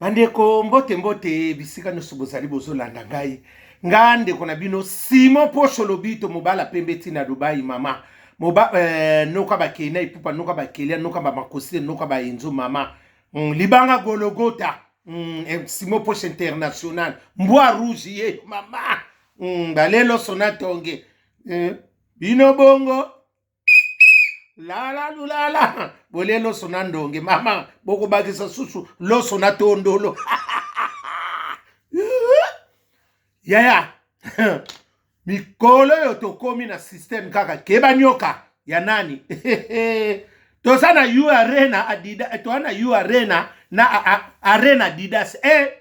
bandeko mbote mbote bisika nyonso bozali bozolanda ngai nga ndeko na bino simon posho lobito mobala pembe ntina dubai mama moba eh, noka bakei na epupa noka bakelia noka bamakosi noka baenzo mama mm, libanga gologota mm, eh, simon posho international mbwa rouge ye mama mm, balelo sona tonge eh, bino bongo lala lulala bolie loso na ndonge mama bokobakisa susu loso na tondolo yaya mikolo oyo tokomi na systeme kaka keba nyoka ya nani toza na u arena adida eh, toza na u arena na arena adidas e eh,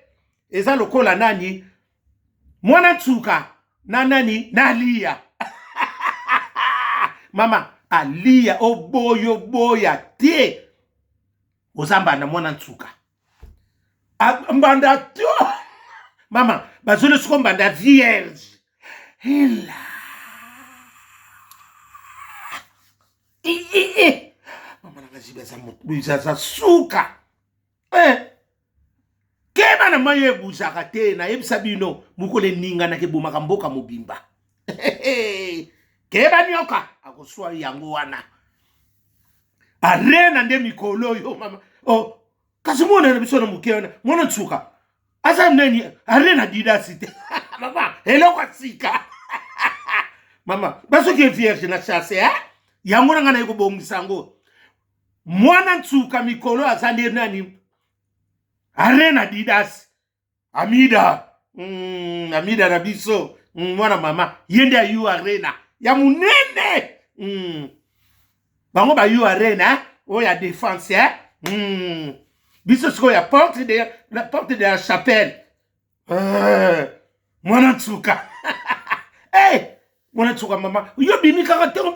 eza lokola nani mwana nsuka na nani na liya mama aliya oboya oboya te oza mbanda mwana nsuka mbanda to mama bazoli soko mbanda vierge hela mama nanga zibi aza suka eh. keba na mai ebuzaka te nayebisa bino mokolo eninganaka ebomaka mboka mobimba keba nyoka akoswa yango wana arena nde mikolo oyo mama oh, kasi mwana na biso na moke wana mwana nsuka aza nani arena didasi te mama eloko ya sika mama basoki vierge na chasse eh? yango na ngai naye kobongisa yango Mwana nsuka mikolo aza nde nani? Arena Didas Amida mm, Amida na biso mm, mwana mama ye nde ayu Arena ya munene mm. bango bayu Arena eh? oyo oh, ya defense eh? mm. biso sikoyo ya porte de la, porte de la chapelle eh, mwana nsuka hey, eh, mwana nsuka mama yo bimi kaka ntango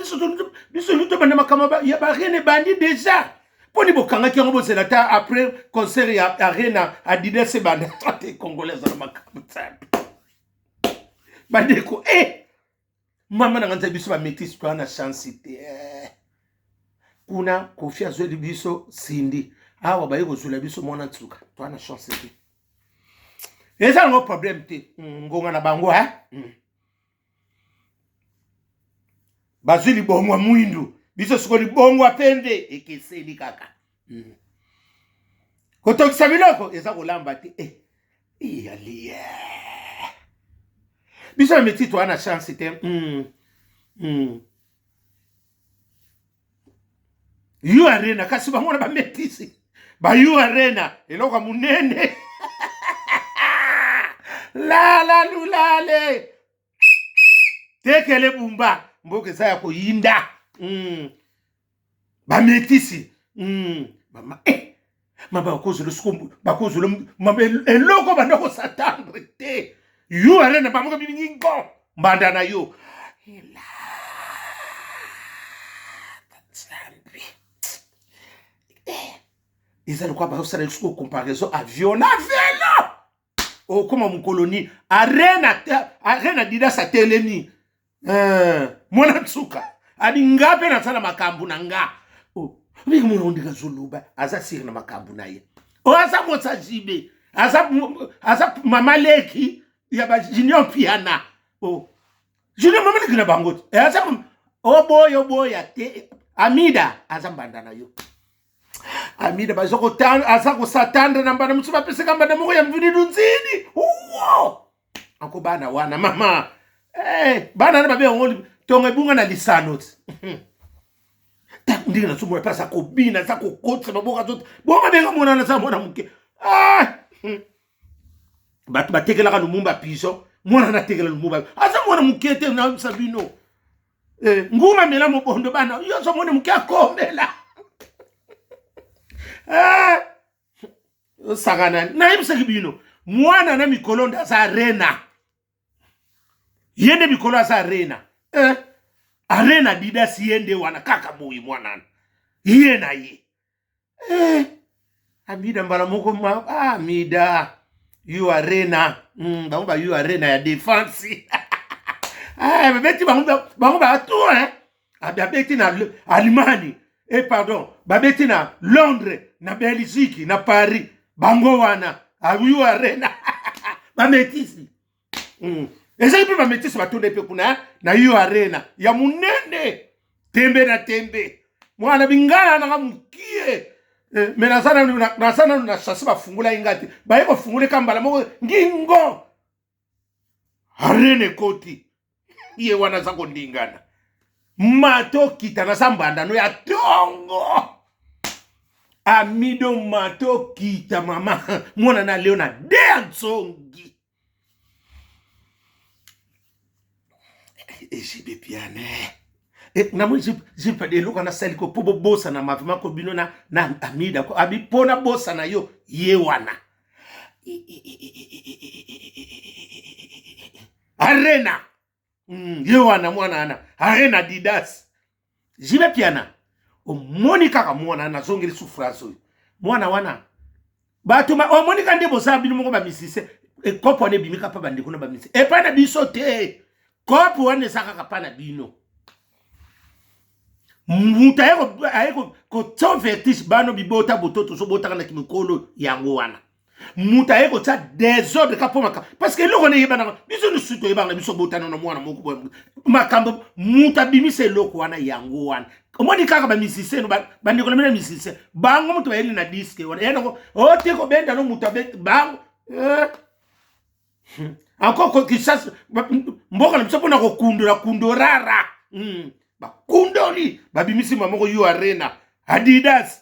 biso nyoto banda makambo ya barene ebandi deja mpo ni bokangaki yango bozela ata après concert ya arena adidas ebanda te congolais azala makambo nsambe bandeko e eh, mama na nga nzai biso bametisi toa na chance te eh. kuna kofi azweli biso sindi awa baye kozwela biso mwana nsuka toa na chance te eza nango problème te hmm, ngonga na bango eh? Hmm. bazwi libongo ya mwindu biso siko libongo ya pembe ekeseni kaka hmm. kotokisa biloko eza kolamba te eh, iyali eh. biso na miti toa na chance te mm. Mm. yo arena kasi bango na bametisi bayo arena eloko ya monene lala lulale tekele bumba mboka eza ya koyinda mm. ba metisi mm, mama eh mama bakozela soko bakozela mama eloko banda kosatandre te yo arena bamoka bilingi ngo mbanda na yo ela eza lokola bazosala lisusu comparaison avion na velo okoma oh, mokolo nini arena arena didas atelemi eh, mwana nsuka abi nga mpe nasala makambo na nga oh, ndenge mwana ondenge azoloba aza siri na makambo na ye oyo oh, aza mosa jibe aza, aza mama leki ya bajunior mpiana oh. junior mama leki na bango te eh, aza oboya oboya te amida aza mbanda na yo amida baza kotanda aza kosatanda na mbanda mosusu bapesaka mbanda moko ya mvini lunzini uwo ako bana wana mama hey, eh, bana na babe yango ntongo ebunga na lisano ti ntango ndenge na somo mpasi akobina aza kokotisa maboko azota bongo ndenge amonana aza mwana moke ah! hmm. bato batekelaka lumumba piso mwana natekela lumumba aza mwana moke te nayebisa bino Eh, nguma mela mobondo bana yo ozo mona moke akomela eh, osakana nayebisaki bino mwana na mikolo nde aza arena ye nde mikolo aza arena eh, arena didasi ye nde wana kaka boye mwanana ye na ye eh, abida mbala moko ma ah, mida yo arena mm, bango ba yo arena ya defense ah, babeti bango bango ba tour hein abeti na Allemagne eh pardon babeti na Londres na Belgique na Paris bango wana ayo ah, arena bametisi mm. ezali mpe bametisi batonde mpe kuna eh, na yo arena ya monene tembe na tembe mwana bingala nanga mokie eh, me naza nanu na chase bafungolaki ngai te baye kofungoleka mbala moko ngingo arena ekoti ye wana aza kondingana mato kita naza mbandano ya tongo amido mato kita mama mwana na leo na dea nzongi ejibe piane eh, namoni jipe de eloko nasali ko mpo bobosana mavema ko bino na, na amida ko abi mpo nabosana yo ye wana arena mm, ye wana mwana wana arena adidas jibe piana omoni kaka mwana nazongeli souffrance oyo mwana wana bato omoni ka nde bozala bino moko bamisise ekopo wana ebimika mpa bandeko na bamise epai na biso te kopo wana eza kaka mpa na bino moto aye kotia vertige bano bibota boto tozobotaka na kimikolo yango wana moto aye kotya desordre kapomaka parce que eloko nde eyebanaka biso lisusu toyebaka na biso botana na mwana moko boye makambo moto abimisa eloko wana yango wana omoni kaka bamisicien bandeko na bino ya misicien bango moto bayeli na diske wana ye noko ote oh, kobenda no moto abeti bango eh. hmm. encore kisasa mboka na biso mpona kokundola kundo rara hmm. bakundoli babimisi mamoko yo arena adidas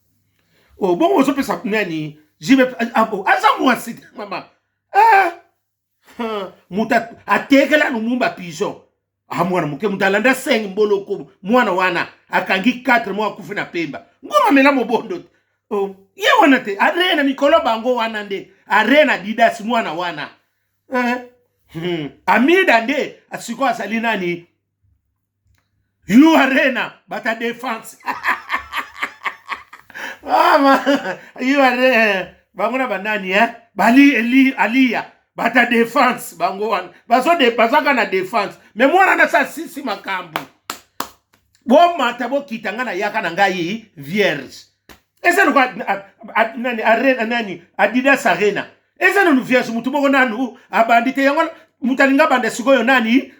oh, bongo ozopesa nani jibe ah, ah, oh, aza mwasi te mama eh, moto atekela lumumba pigeon ah, mwana moke moto alanda 5 mboloko mwana wana akangi 4 mwa akufi na pemba ngoma mela mobondo te oh, ye wana te aree na mikolo bango wana nde aree na didas mwana wana eh, hmm. amida nde sikoyo azali nani You Arena bata defense mama You Arena bango na banani eh bali eli aliya bata defense bango wana bazo de bazaka na defense me mwana na sa sisi makambo bomata bokita nga na yaka na ngai vierge eza noko nani arena nani adidas arena eza nanu vierge motu moko nanu abandi te yango moto alinga banda sikoyo nani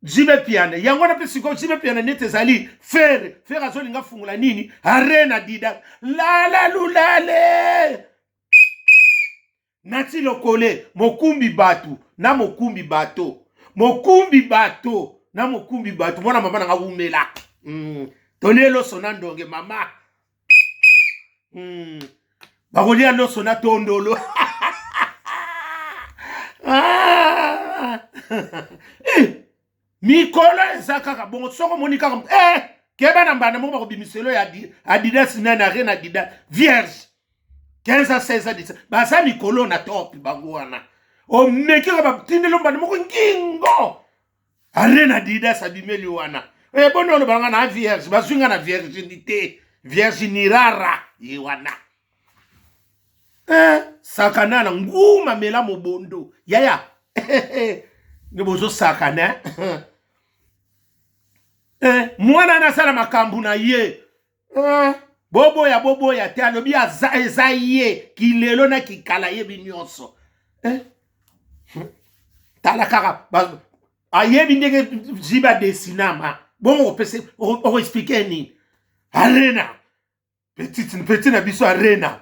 jibe piana yango wana mpe sikoyo jibe piana neti ezali fere fere azolinga afungola nini arena dida lala lulale nati lokole mokumbi bato na mokumbi bato mokumbi bato na mokumbi bato mwana mama na nga wumela mm. tolelo sona ndonge mama hmm. bakolia loso na tondolo ah! eh! mikolo eza kaka bongo soko omoni kaka eh! keba na mbanda moko bakobimiselo ya adidas nani arena adidas vierge 15 16 baza mikolo na top bango wana omeki kaka batindelo mbanda moko ngingo arena adidas abimeli wana e boni oloba nga na vierge bazwi nga na virginité virgini rara ye wana eh, sakana na nguma mela mobondo yaya nde bozosakana eh, mwana nasala makambo na ye eh, boboya boboya te alobi aza eza ye kilelo na kikala yebi nyonso eh? tala kaka ayebi ndenge ziba desinama bongo opese okoexplike nini arena petit petit na biso arena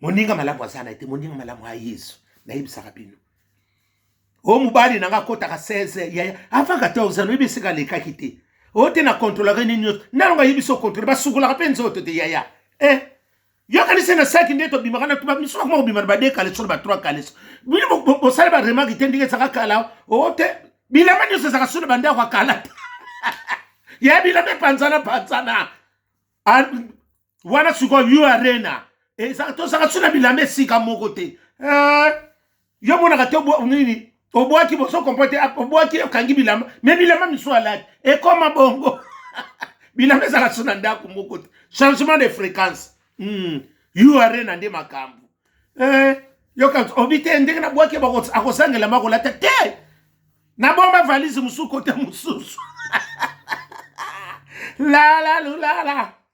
moninga malamu aza na ye te moninga malamu ya yesu nayebisaka bino o oh, mobali na ngai akotaka 16 yaya avant 14 ans oyebi esika alekaki te o oh, te na kontrolaka nini nyonso nalonga ayebi so kontrole basukolaka mpe nzoto te yaya e eh, yokanisi na saki nde tobimaka na tuba misusu akoma kobima na bade kaleso na batroi kaleso bino bosali baremaki te ndenge ezaka kala o oh, te bilamba nyonso ezaka so na bandako ya kala te ya bilamba epanzana panzana wana sikoyo new arena eza tozalaka biso na bilamba esika moko te eh, yo monaka te nini obwaki boso kompote ah, obwaki okangi bilamba me bilamba misusu alaki ekoma bongo bilamba ezalaka biso na ndako moko te changement de fréquence mm. yo arena nde makambo eh, yoka obi te ndenge nabwaki akosangela makolata te nabomba valise mosusu kote mosusu lala lulala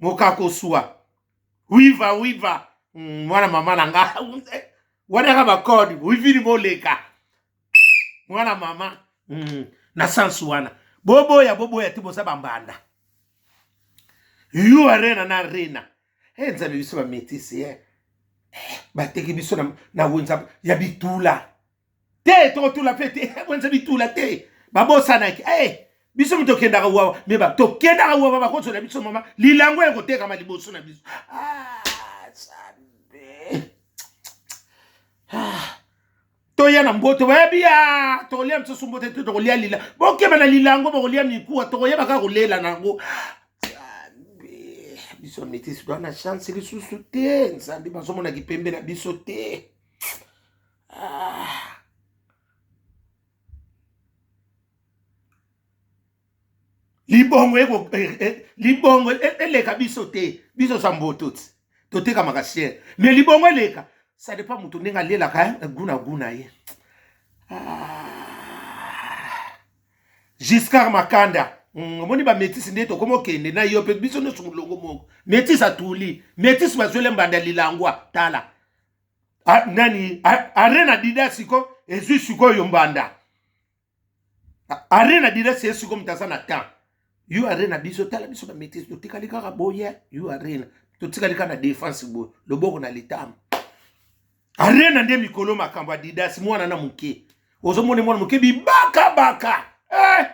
mokakosua wiva wiva mm, mwana mama na nga wadaka bakode wivili moleka mwana mama mm, na sansu wana boboya boboya ti boza bambanda yo arena na arena e eh, nzambe biso bametisi e eh. eh, bateki biso na wenza ya bitula te tokotula mpe te bonisa bitula te babosanaki e eh, biso mi tokendaka wawa me tokendaka wawa bakozwela biso mama lilango ya kotekama liboso na biso ah, ah. toya na mboto bayebi ya ah, tokolia mosusu mboto te tokolia lila bokeba na lilango bokolia mikuwa tokoyeba kaka kolela na yango biso mitisi toa na chance lisusu te nzambe bazomona kipembe na biso te Ah. libongo eko eh, eh, libongo e, eleka biso te biso za mboto ti totekamaka siere mais libongo eleka ça dépend moto ndenge alelaka eh, guna guna ye ah. giscard makanda mm, omoni bametisi nde tokoma okende na yo mpe biso nyonso molongo moko metisi atuli metisi bazwele mbanda lilangwa tala a, nani a, arena dida siko ezwi sikoyo mbanda arena dida sie siko moto aza na temps yo arena biso tala biso na maitrise totikali kaka boye yo arena totikali kaka na defense boye loboko na litama arena nde mikolo makambo ya didas mwana na moke ozomona mwana moke bibakabaka eh!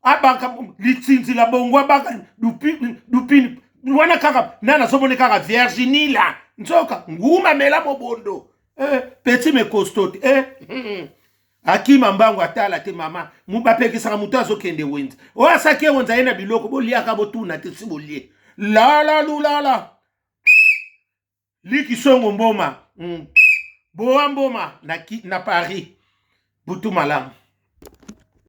abaka litsinzi la bongo abaka dupini dupini wana kaka na nazomoni kaka virginie la nzoka nguma mela mobondo eh, peti mekosto te eh, hmm. akima mbango atala te mama bapekisaka moto azokende wenze oyo asaki ye wenze aye na biloko boliaka botuna te si bolie lala lulala likisongo mboma mm. bowa mboma na, na paris butu malamu